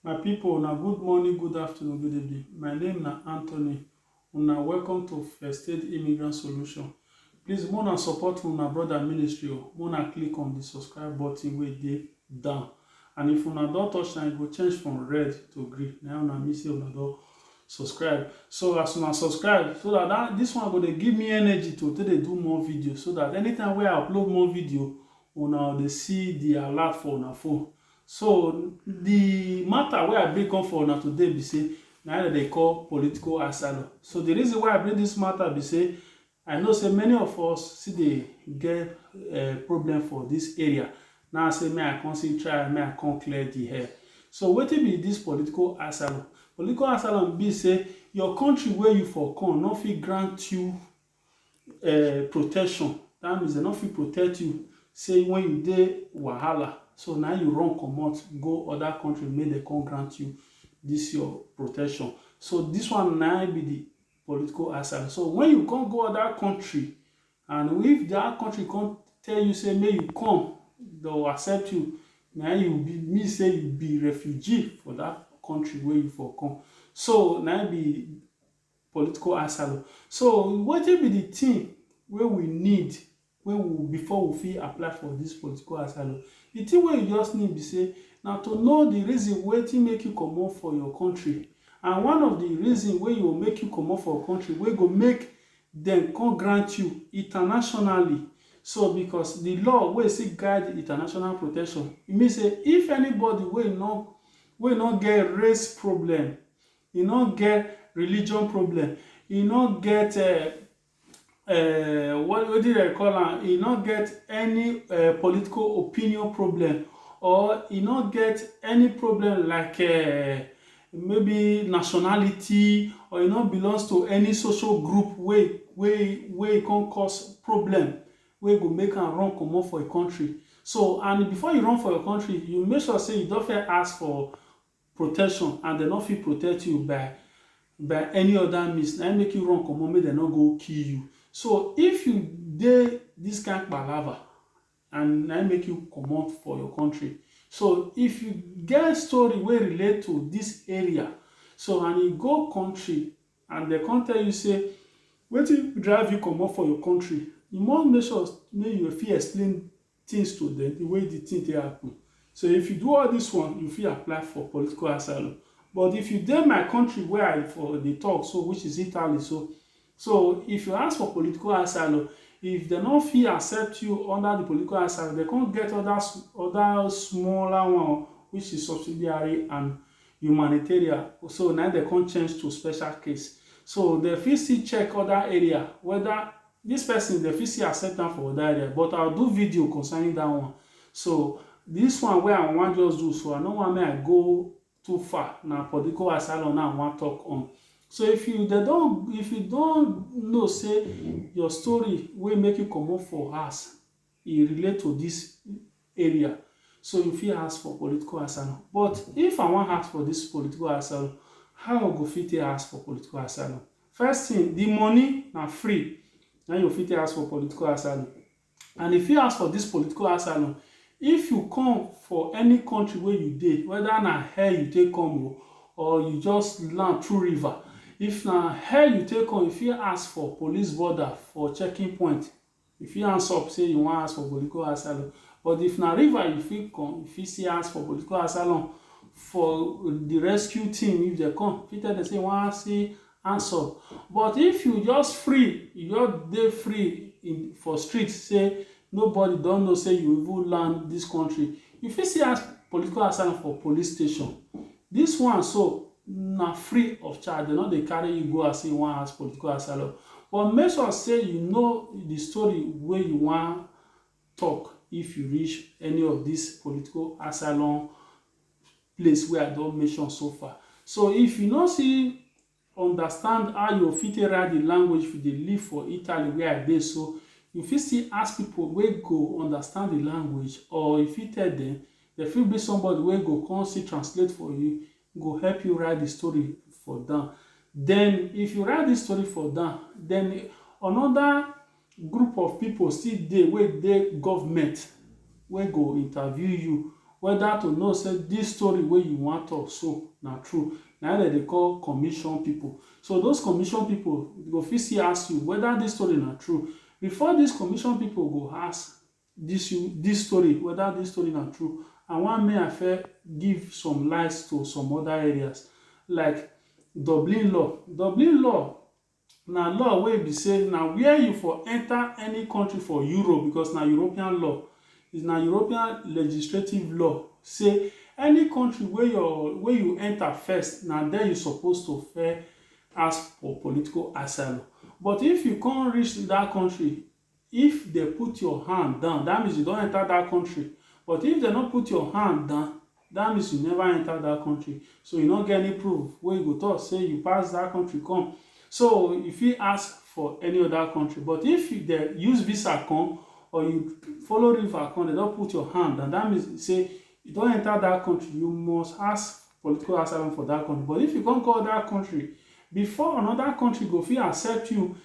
My pipo una good morning, good afternoon, good evening. My name na Anthony. Una welcome to First Aid Immigrant Solution. Please make una support una brother ministry o. Make una click on the subscribe button wey dey down. And if una don touch am, e go change from red to green. Na una mean say una don subscribe. So as una subscribe, so that, that this one go dey give me energy to take dey do more video so that anytime wey I upload more video, una dey see the alert for una phone. So di matter wey I bring come for una today be say na im dem dey call political asylum. So di reason why I bring dis matter be say I know say many of us still dey get problem for dis area na im I say make I come still try make I come clear di air. So wetin be dis political asylum? Political asylum be say your country wey you for come no fit grant you um protection that means dem no fit protect you say when you dey wahala so na you run comot go other country make dem come grant you this your protection so this one na be the political asylum so when you come go other country and if that country come tell you say make you come dem accept you na you be mean say you be refugee for that country wey you for come so na be political asylum. So wetin be di tin wey we need wey we before we fit apply for dis political asylum? Di tin wey you just need be say na to know di reason wetin make you comot for your kontri and one of di reason wey go make you comot for your kontri wey go make dem come grant you internationally so because di law wey still guide di international protection e mean say if anybody wey no wey no get race problem E no get religion problem, e no get um what wetin dem dey call am, e no get any um political opinion problem or e no get any problem like um maybe nationality or e no belongs to any social group wey wey wey e come cause problem wey go make am run comot for e country. So and before you run for your country, you make sure sey you don first ask for protection and dem no fit protect you by by any other means na im make you run comot make dem no go kill you so if you dey this kind palava and na im make you comot for your country so if you get story wey relate to this area so and you go country and dem come tell you say wetin drive you comot for your country you must make sure make you fit explain things to dem, the way the thing take happen. So if you do all this one, you fit apply for political asylum. But if you dey my country where I for dey talk so, which is Italy so, so if you ask for political asylum, if dem no fit accept you under the political asylum, dem come get other s- other smaller one which is subsidiary and humanitarian. So na im dem come change to special case. So dem fit still check other area whether This person dem fit still accept am for oda area but I do video concerning that one so this one wey I wan just do so I no wan make I go too far na political asylum na I wan talk on so if you dem don if you don know say your story wey make you comot for house e relate to dis area so you fit ask for political asylum but if I wan ask for dis political asylum how I go fit take ask for political asylum first thing the money na free na you go fit take ask for political asylum and if you ask for dis political asylum if you come for any country wey you dey whether na air you take come oo or you just land through river if na air you take come you fit ask for police border for checking point You fit hands up say you wan ask for political asylum but if na river you fit come, you fit still ask for political asylum for di rescue team if dem come, you fit tell dem say you wan ask say hands up but if you just free, you just dey free in for street say nobody don know say you even land dis country, you fit still ask political asylum for police station Dis one so na free of charge, dem no dey carry you go as you wan ask political asylum. But make sure say you know di story wey you wan tok if you reach any of dis political asylum place wey I don mention so far. So if you no see Understand how you go fit take write di language if you dey live for Italy wia I dey so, you fit still ask pipo wey go understand di language or you fit tell dem, dem fit bring somebody wey go come still translate for you, e go help you write di story for down. Den if you write dis story for down, den anoda Group of pipo still dey wey dey government wey go interview you weda to know say dis story wey you wan tok so na true, na im dem dey call commission pipo. So those commission pipo go fit still ask you weda dis story na true. Before dis commission pipo go ask dis you dis story weda dis story na true, I wan make I first give some light to some oda areas like Dublin Law. Dublin Law Na law wey be say na where you for enter any country for Europe because na European law, is na European legistrative law say any country wey your wey you enter first na there you suppose to first ask for political asylum but if you come reach that country If dem put your hand down, that means you don enter that country, but if dem no put your hand down, that means you never enter that country, so you no get any proof wey you go talk say you pass that country come, so you fit ask for any other country, but if dem use visa come or you follow river come, dem don put your hand down, that means say you don enter that country, you must ask political asylum for that country, but if you come go other country, before another country go fit accept you,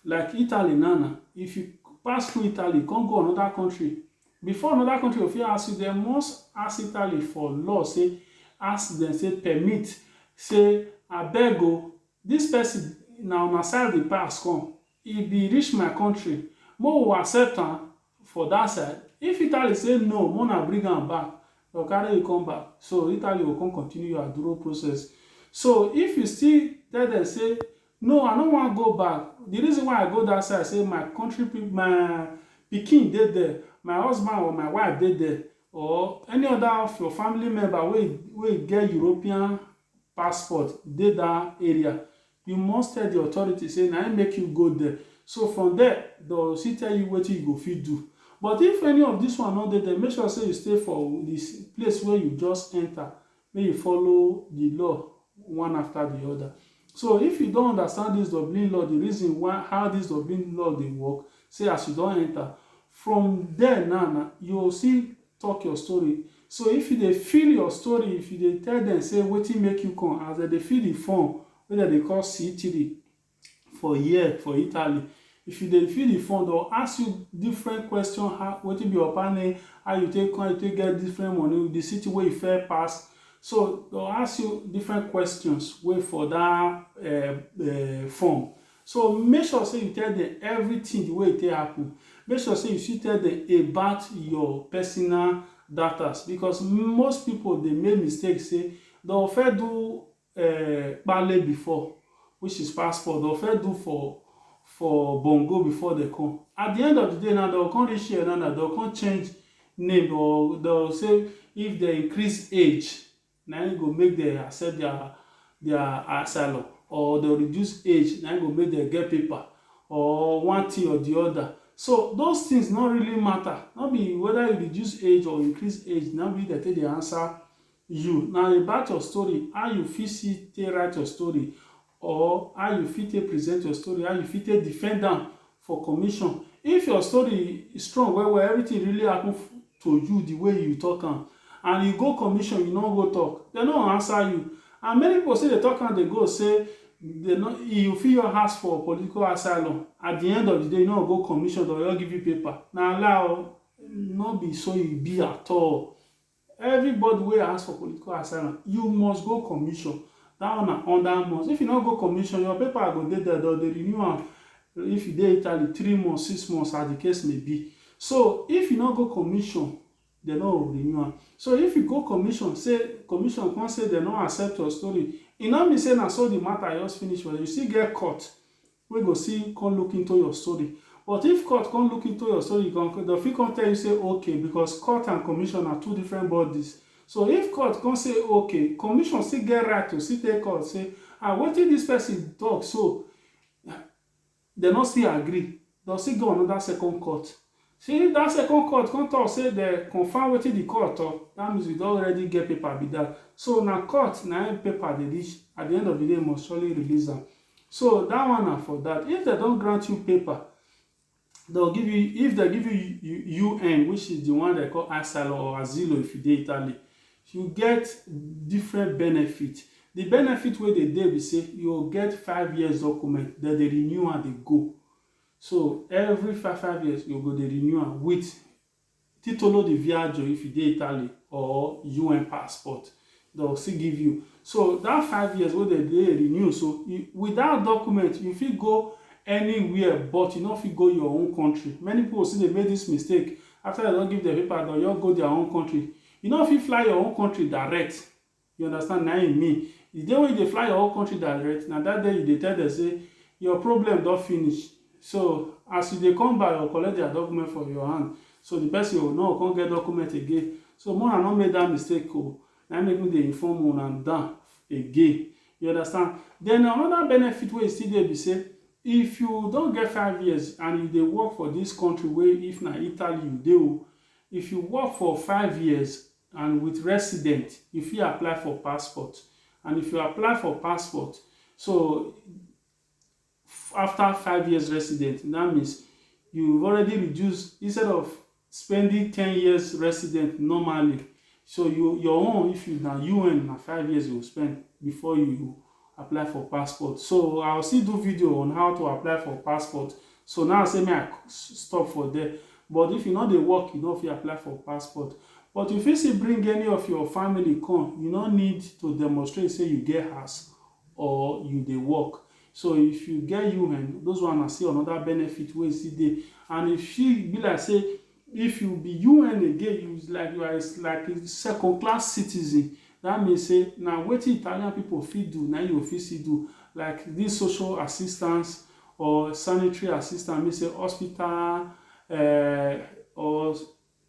Like Italy now na, if you pass through Italy come go another country, before another country go fit ask you, dem must ask Italy for law say, ask dem say permit say abeg o, this person na una side e pass come, e be reach my country, make we accept am For dat side, if Italy say no make una bring am back, dem go carry you come back, so Italy go come continue your aduro process. So if you still tell dem say no I no wan go back, di reason why I go dat side say my country pipo, my pikin dey there, my husband or my wife dey there or any oda of your family member wey wey get European passport dey dat area, You must tell di authorities say na im make you go there, so from there dem go still tell you wetin you go fit do. But if any of dis one no dey there, make sure say you stay for di place wey you just enter, make you follow di law one after di other. So if you don understand dis Dublin law, di reason why how dis Dublin law dey work, say as you don enter, from there now na you go still Talk your story So if you dey fill your story if you dey tell dem say wetin make you come as dem dey fill the form wey dem dey call C three for here for Italy if you dey fill the form dem go ask you different question how wetin be your papa name how you take come how you take get different money the city wey you first pass so dem go ask you different questions wey for that um form So make sure say you tell dem everything the way e take happen. Make sure say you still tell dem about your personal datas because most people dey make mistake say dem go first do um pale before which is passport, dem go first do for for bongo before dem come. At the end of the day now, dem go come reach here now now, dem go come change name or dem go say if dem increase age na im go make dem accept dia dia asylum or dem reduce age na im go make dem get paper or one tin or di oda. So those tins no really mata, no be weda you reduce age or increase age na im be dem take dey ansa you. Na about your story, how you fit see take write your story or how you fit take present your story, how you fit take defend am for commission. If your story strong well well, everything really happen to you the way you talk am and you go commission, you no go talk, dem no answer you and many people still dey talk am dey go say they no, you fit your ask for political asylum at the end of the day you no go commission, dem go just give you paper. Na lie o, no be so e be at all. Everybody wey ask for political asylum, you must go commission, that one na under must. If you no go commission, your paper go dey there, dem dey renew am if you dey Italy, three months, six months as the case may be. So, if you no go commission, dem no go renew am. So, if you go commission say, commission come say dem no accept your story, e no mean say na so the matter just finish for there, you still get court wey go still come look into your story but if court come look into your story dem fit come tell you say ok because court and commission na two different bodies so if court come say ok commission still get right to still tell court say ah wetin this person talk so dem no still agree dem still get another second court Shey that second court come talk say dem confirm wetin the court talk, that means we don already get paper be that, so na court na im paper dey reach, at the end of the day must surely release am, so that one na for that, if dem don grant you paper dem go give you, if dem give you UN which is the one dem call asylum or asilo if you dey Italy, you get different benefit, the benefit wey dey there be say you go get five years document, dem dey renew am dey go, So every five five years you go dey renew am with Titolo di Viaggio if you dey Italy or un passport dem go still give you so dat five years wey dem dey renew so with dat document you fit go anywhere but you no fit go your own country many pipo still dey make dis mistake after dem don give dem paper dem go just go dia own country you no fit fly your own country direct. You understand na im e mean. The day wey you dey fly your whole country direct, na that day you dey tell dem say your problem don finish. So as you dey come back, dem go collect their document for your hand. So the person o no go come get document again. So make una no make that mistake o. Na im make me dey inform una dan again. You understand. Then another benefit wey e still dey be say, if you don get five years and you dey work for this country wey if na Italy you dey o, if you work for five years, And with resident you fit apply for passport and if you apply for passport so after five years resident that means you already reduce instead of spending ten years resident normally so you your own if you na UN na five years you go spend before you apply for passport so I will still do video on how to apply for passport so now say me I stop for there but if you no dey work you no fit apply for passport but you fit still bring any of your family come you no need to demonstrate say you get house or you dey work so if you get UN those one na still another benefit wey still dey and if she be like say If you be UN again you is like you are a like a second class citizen that means say na wetin Italian people fit do na im you fit still do like this social assistance or sanitary assistance mean say hospital um or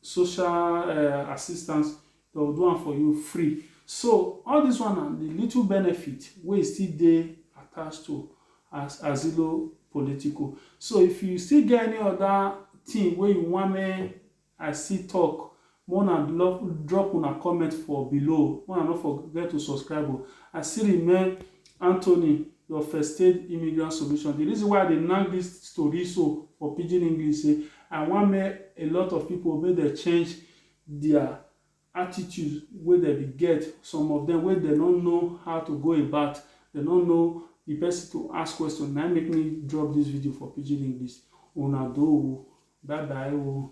social um assistance Dem go do am for you free. So all dis one na di little benefit wey e still dey attached to as Asilo Politico. So if you still get any oda tin wey you want make I still tok, make una love drop una comment for below. Make una no forget to subscribe o. I still remain Anthony, your first aid immigrant solution. Di reason why I dey nack dis tori so for pidgin English say I want make a lot of pipo make dem change dia attitude wey dem be get, some of dem wey dem no know how to go about, dem no know di pesin to ask question na im make me drop dis video for pidgin English. Una do o, bye bye o.